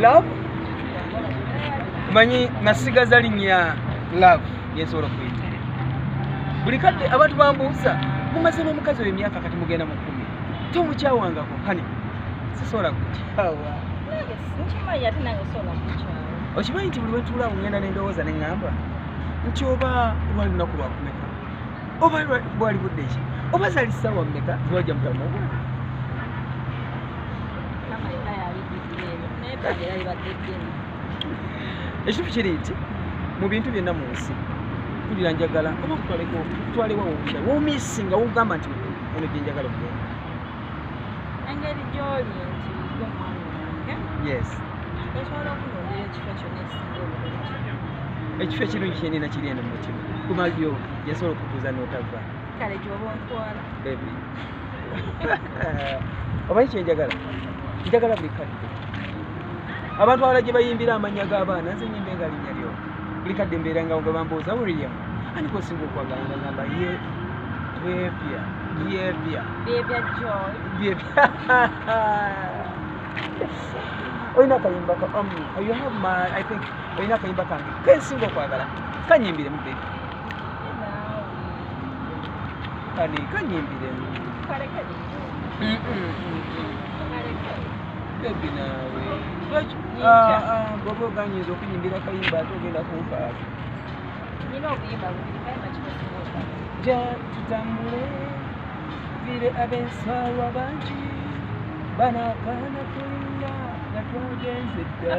love manyi nasigaza linya love yensobola okuyita buli kadde abantu bambuuza mumaze n'omukazi oyo emyaka kati mugenda mu kkumi tomukyawangako hani sisobola kukyawa okimanyi nti buli wetuula ngenda nendowooza neŋŋamba nti oba lwali lunaku lwakumeka oba bwali budde ki oba zali sawa meka ziwaja mutamu ogwa ekintu kiri nti mu bintu byonna mu nsi kulira njagala oba kutwaleko twalewa wokusa womisi nga wogamba nti ono gyenjagala okugenda engeri gyoli nti omwana wange yes esobola okunondera ekifo kyonna ekisinga obulungi ekifo ekirungi kyenina kiri eno mu mutima kumalyo yasobola okutuuza n'otava kale gyoba ontwala bebi omanyi kyenjagala njagala buli kadde abantu abala gye bayimbira amannya g'abaana nze nyimba enga linnya lyo buli kadde mbeera nga nga bambuuza william ani kwesinga okwagala nga ngamba ye bebya bebya bebya joy bebya olina akayimba ka um, you have my i think olina akayimba kange kensinga okwagala kanyimbire mu bebi kani kanyimbire bebi naawe bwoba oganyinza okunyimbira kayimba ate ogenda kunfaako ja tutambule vile abensaalwa bangi banaakaana tulina nga twagenze dda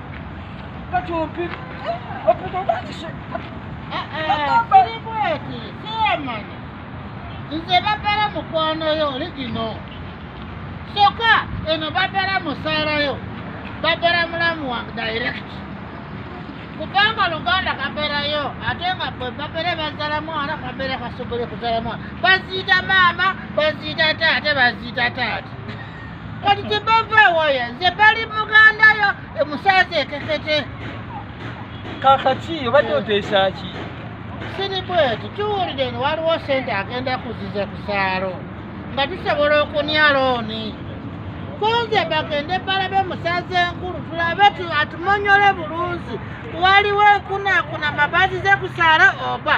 Kati ompika. Ompika lwaki se? Kiri bweti, siyamanya. Nze babala mukwano yo oli gino. Soka eno babala musaala yo. Babala mulamu wange direct. Kubanga Luganda kaberayo ate nga bwe babere bazala mwana kabere kasobole kuzala mwana. Baziita maama, baziita taata, baziita taata. kati tebava waya nze bali muganda yo emusaza ekekete kakaki obadde eh. oteesa ki siri bweti tuwulire ni waliwo sente agenda kuziza kusaalo nga tusobola okunya looni kunze bagende balabe musaza enkulu tulabe atumonyole bulungi waliwo ekunakuna mabazi ze kusaalo oba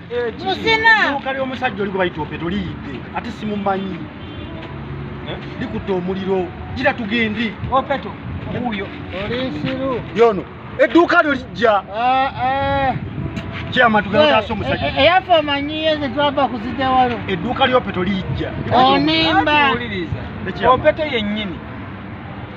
musinaeduuka ly'omusajja oli gwe bayita opeto liyidde ate simumanyi eh? likutta omuliro gira tugendi opeto wuuyo olinsiru yono edduuka lyo lijja kyamatugaasomuyaffe omanyiye zetwava kuzitewalo edduuka lyopeto lijja onimba opeto yennyini